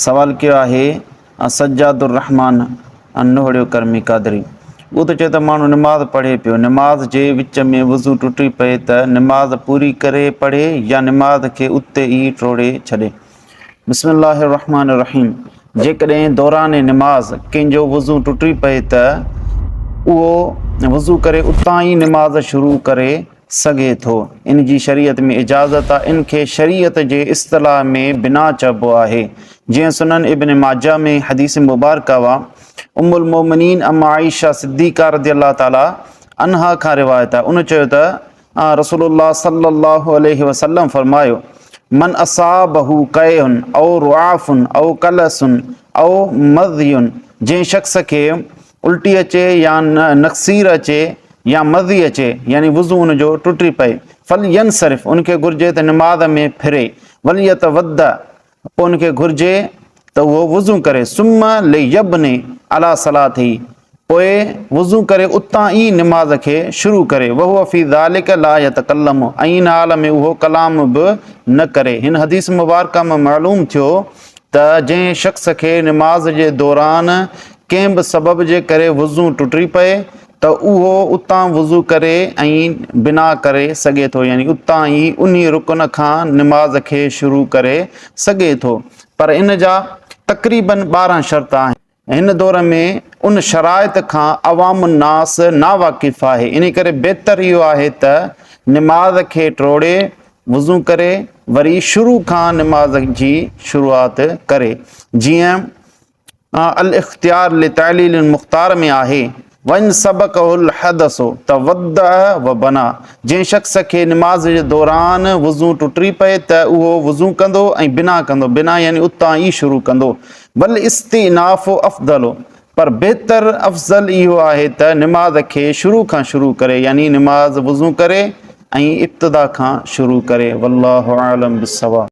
سوال ڪيو آهي سجاد الرحمان نوهڙيو ڪرمي قادري. اهو ته چئي ته ماڻهو نماز پڙهي پيو، نماز جي وچ ۾ وضو ٽٽي پئي ته نماز پوري ڪري پڙهي يا نماز کي اتي ئي ٽوڙي ڇڏي. بسم الله الرحمان الرحيم جيڪڏهن دوران نماز ڪنهن جو وضو ٽٽي پئي ته اهو وضو ڪري اتان ئي نماز شروع ڪري سگهي ٿو ان جي شريعت ۾ اجازت آهي ان کي شريعت جي اصطلاح ۾ بناء چئبو آهي جيئن سنن ابن ماجه ۾ حديث مبارڪه وا ام المومنين ام عائشه صديقه رضي الله تعالٰي عنها کان روايت آهي ان چيو ته آن رسول الله صلي الله عليه وسلم فرمايو من اصابه قيئن او رعاف او قلس او مذي جنهن شخص کي الٽي اچي يا نڪسير اچي يا مزي اچي يعني وضو ان جو ٽٽي پئي فل ين صرف ان کي گھرجي ته نماز ۾ ڦري وليت ود پوء ان کي گھرجي ته اهو وضو ڪري ثم ليبني على صلاته پوء وضو ڪري اتان ئي نماز کي شروع ڪري وهو في ذلك لا يتڪلم ۽ ان حال ۾ اهو ڪلام به نه ڪري هن حديث مبارڪه مان معلوم ٿيو ته جنهن شخص کي نماز جي دوران ڪنهن به سبب جي ڪري وضو ٽٽي پئي ته اهو اتان وضو ڪري ۽ بنا ڪري سگهي ٿو يعني اتان ئي انهي رڪن کان نماز کي شروع ڪري سگهي ٿو پر ان جا تقريبن ٻارهن شرط آهن. هن دور ۾ ان شرائط کان عوام الناس ناواقف آهي، ان ڪري بهتر اهو آهي ته نماز کي ٽوڙي، وضو ڪري، وري شروع کان نماز جي شروعات ڪري. جيئن الاختيار لتعليل المختار ۾ آهي. وان سبقه الحدث تودع وبنى، جنهن شخص کي نماز جي دوران وضو ٽٽي پئي ته اهو وضو ڪندو ۽ بنا ڪندو، بنا يعني اتان ئي شروع ڪندو، والاستئناف افضل، پر بهتر، افضل، اهو آهي ته نماز کي شروع کان شروع ڪري، يعني نماز وضو ڪري ۽ ابتدا کان شروع ڪري، والله اعلم بالصواب.